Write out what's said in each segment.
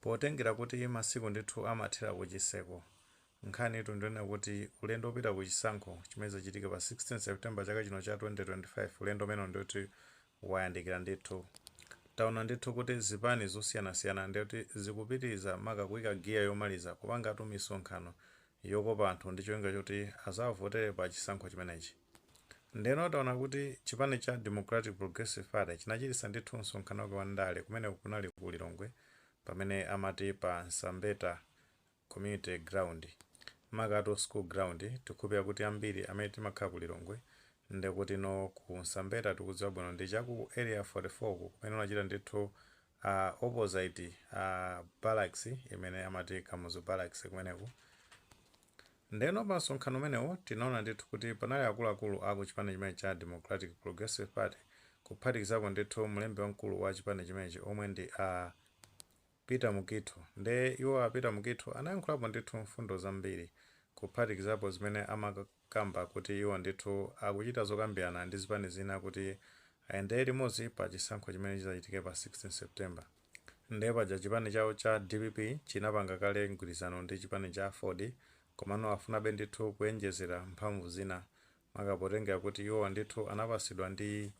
Potengera kuti masiku ndithu amathera ku chitseko, nkhanitu ndi yonena kuti ulendo wopita ku chisankho chimene chidzachitike pa 16 September chaka chino cha 2025, ulendo umenewu ndekuti wayandikira ndithu. Taona ndithu kuti zipani zosiyanasiyana ndekuti zikupitiriza maka kuika giya yomaliza kupangatu misonkhano yokopa anthu ndi cholinga choti adzawavotere pa chisankho chimenechi. Ndiyeno taona kuti chipani cha Democratic Progressive Party chinachititsa ndithu msonkhano wake wa ndale kumeneku kunali ku Lilongwe pamene amati pa Msambeta Community Ground, makatu School Ground, tikhulupirira kuti ambiri amene timakhala ku Lilongwe ndekuti ku Msambeta tikudziwa bwino ndi cha ku Area 44 uku kumene unachitika ndithu A opposite a Barracks imene amati Kamuzu Barracks kumeneku. Ndeno pa msonkhano umenewo tinaona ndithu kuti panali akuluakulu a ku chipani chimenechi cha Democratic Progressive Party kuphatikizapo ndithu mlembi wamkulu wa chipani chimenechi omwe ndi a Peter Mukhito. Nde iwo a Peter Mukhito anayankhulapo ndithu mfundo zambiri kuphatikizapo zimene amaka. kamba kuti iwo ndithu akuchita zokambirana ndi zipani zina kuti ayendere limodzi pa chisankho chimene chidzachitike pa 16 September. Nde paja chipani chawo cha dpp chinapanga kale mgwirizano ndi chipani cha aford komano akufunabe ndithu kuonjezera mphamvu zina maka potengera kuti iwowa ndithu anapatsidwa ndi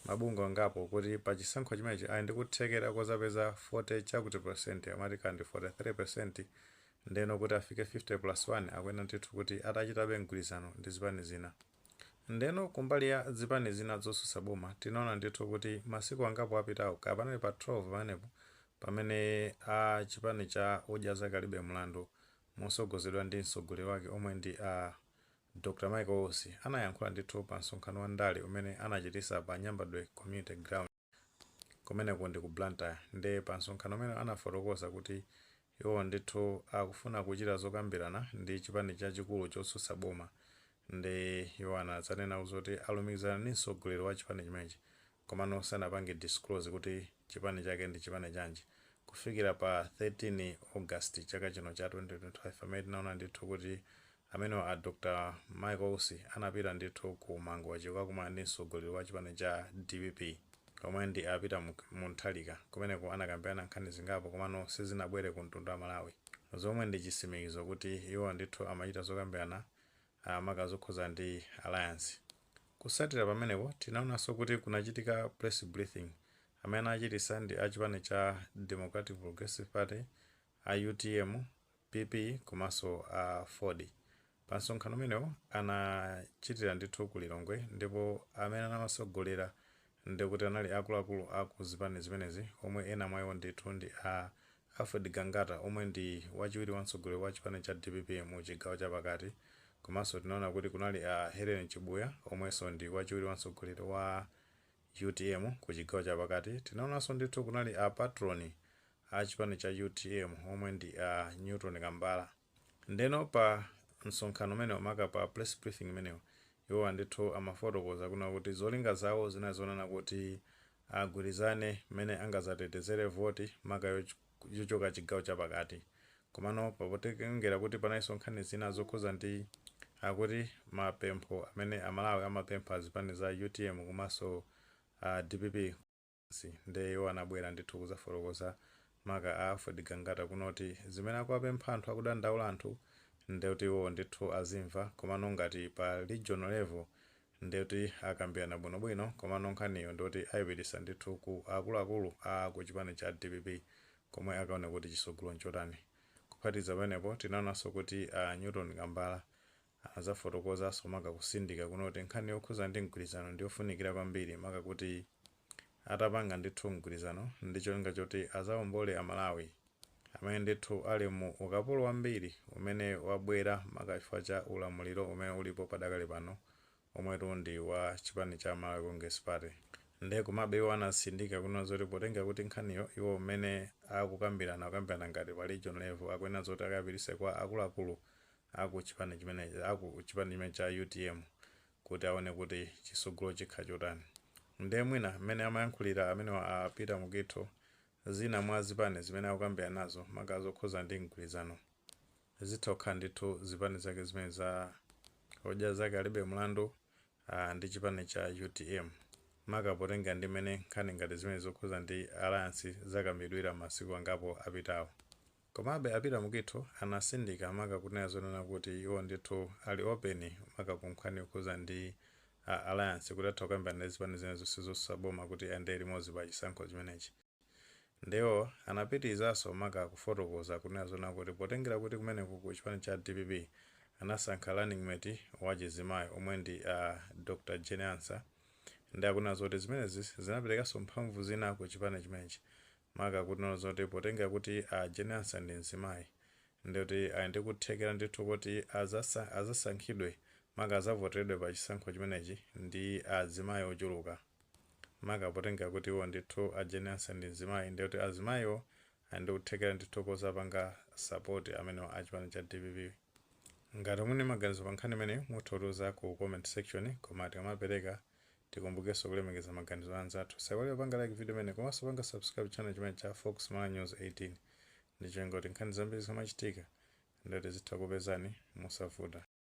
mabungwe angapo kuti pa chisankho chimenechi ali ndi kuthekera kodzapeza 40 chakuti percent amati kaya ndi 43% Ndeno kuti afike 50 plus 1 akuyenera ndithu kuti atachitabe mgwirizano ndi zipani zina. Ndeno kumbali ya zipani zina zotsutsa boma tinaona ndithu kuti masiku angapo apitawo kaya panali pa 12 pamenepo pamene a chipani cha Odya Zake Alibe Mlandu motsogozedwa ndi mtsogoleri wake omwe ndi a Dr Michael Usi anayankhula ndithu pa msonkhano wa ndale umene anachititsa pa Nyambadwe Community Ground. Kumeneku ndi ku Blantyre nde pa msonkhano umenewu anafotokoza kuti iwowo ndithu akufuna kuchita zokambirana ndi chipani chachikulu chotsutsa boma nde iwo anadzanena zoti alumikizana ndi mtsogoleri wa chipani chimenechi komano sanapange disclose kuti chipani chake ndi chipani chanji kufikira pa 13 August chaka chino cha 2025 pamene tinaona ndithu kuti Amenewa a Dr Michael Usi anapita ndithu ku Mangochi kukakumana ndi mtsogoleri wa chipani cha dpp omwe ndi a Peter Mutharika. Kumeneko anakambirana nkhani zingapo komano sizinabwere ku mtundu wa Malawi zomwe ndi chitsimikizo kuti iwo ndithu amachita zokambirana maka zokhuza ndi alliance. Kutsatira pamenepo tinaonanso kuti kunachitika press briefing. Amene anachititsa ndi a chipani cha Democratic Progressive Party a utm, PP komanso a aford. Pa msonkhano umenewo anachitira ndithu ku Lilongwe ndipo amene amatsogolera ndi kuti anali akuluakulu a ku zipani zimenezi omwe ena mwa iwo ndithu ndi a Alfred Gangata omwe ndi wachiwiri wa mtsogoleri wa chipani cha dpp mu chigawo cha pakati komanso tinaona kuti kunali a Hellen Chabunya omwenso ndi wachiwiri wa mtsogoleri wa Utm ku chigawo chapakati tinaonanso ndithu kunali a patron a chipani cha utm omwe ndi a Newton Kambala ndeno pa msonkhano umenewo maka pa press briefing imeneyo iwowa ndithu amafotokoza kunena kuti zolinga zawo zinali zonena kuti agwirizane mmene angadzatetezere voti maka yoch yochoka chigawo cha pakati. Komano potengera kuti panalinso nkhani zina zokhuza ndi akuti mapempho amene a Malawi amapempha azipani za utm komanso a dpp, nde iwo anabwera ndithu kuzafotokoza maka a Alfred Gangata kunena kuti zimene akuwapempha anthu akudandaula anthu ndekuti iwowo ndithu azimva komano ngati pa regional level ndeti akambirana bwinobwino komano nkhaniyo ndekuti aipititsa ndithu ku akuluakulu a ku chipani cha dpp komwe akaone kuti tsogolo nchotani. Kuphatikiza pamenepo tinaonanso kuti a Newton Kambala anadzafotokozaso maka kutsindika kunena kuti nkhani yokhuza ndi mgwirizano ndiyofunikira kwambiri maka kuti atapanga ndithu mgwirizano ndi cholinga choti azaombole a Malawi amene ndithu ali mu ukapolo wambiri umene wabwera maka chifukwa cha ulamuliro umene ulipo padakali pano omwetu ndi wa chipani cha Malawi Congress Party. Nde komabe iwo anatsindika kunena zoti potengera kuti nkhaniyo iwo mmene akukambirana akukambirana ngati pa region level akuyenera zoti akapititse kwa akuluakulu aku chipani chimenechi cha utm kuti aone kuti chisogolo chikhala chotani nde mwina mmene amayankhulira amenewa a Peter Mukhito zina mwa zipani zimene akukambiranazo maka zokhuza ndi mgwirizano zitha kukhala ndithu zipani zake zimene za odya zake alibe mlandu aah ndi chipani cha utm maka potengera ndi mmene nkhani ngati zimene zokhuza ndi alliance zakambidwira m'masiku angapo apitawo. Komabe a Peter Mukhito anatsindika maka kunena zonena kuti iwo ndithu ali open maka ku nkhani yokhuza ndi alliance kuti atha kukambirana ndi zipani zina zonse zosusa boma kuti ayendere limodzi pa chisankho chimenechi. Nde iwo anapitilizaso maka kufotokoza kunena zonena kuti potengera kuti kumeneko ku chipani cha dpp anasankha running mate wa chizimayi omwe ndi a Dr Jane Ansah nde akunena zoti zimenezi zinapelekaso mphamvu zina ku chipani chimenechi maka kunena zoti potenga kuti a Jane Ansah ndi mzimayi ndiye kuti ali ndi kuthekera ndithu koti azasankh azasankhidwe maka azavoteredwe pa chisankho chimenechi ndi azimayi ochuluka maka potenga kuti iwo ndithu a Jane Ansah ndi mzimayi ndiye kuti azimayiwo ali ndi kuthekera ndithu kozapanga support amenewa a chipani cha dpp. Ngati muli ndi maganizo pa nkhani imeneyi mutha kutiuza ku comment section koma tikamapereka. Tikumbukeso kulemekeza maganizo a anzathu. Usaiwale kupanga like video imeneyi komanso kupanga subscribe channel chimenechi cha Fox Malawi News 18 ndicholinga kuti nkhani zambiri zikamachitika ndiye tizitha kukupezani mosavuta.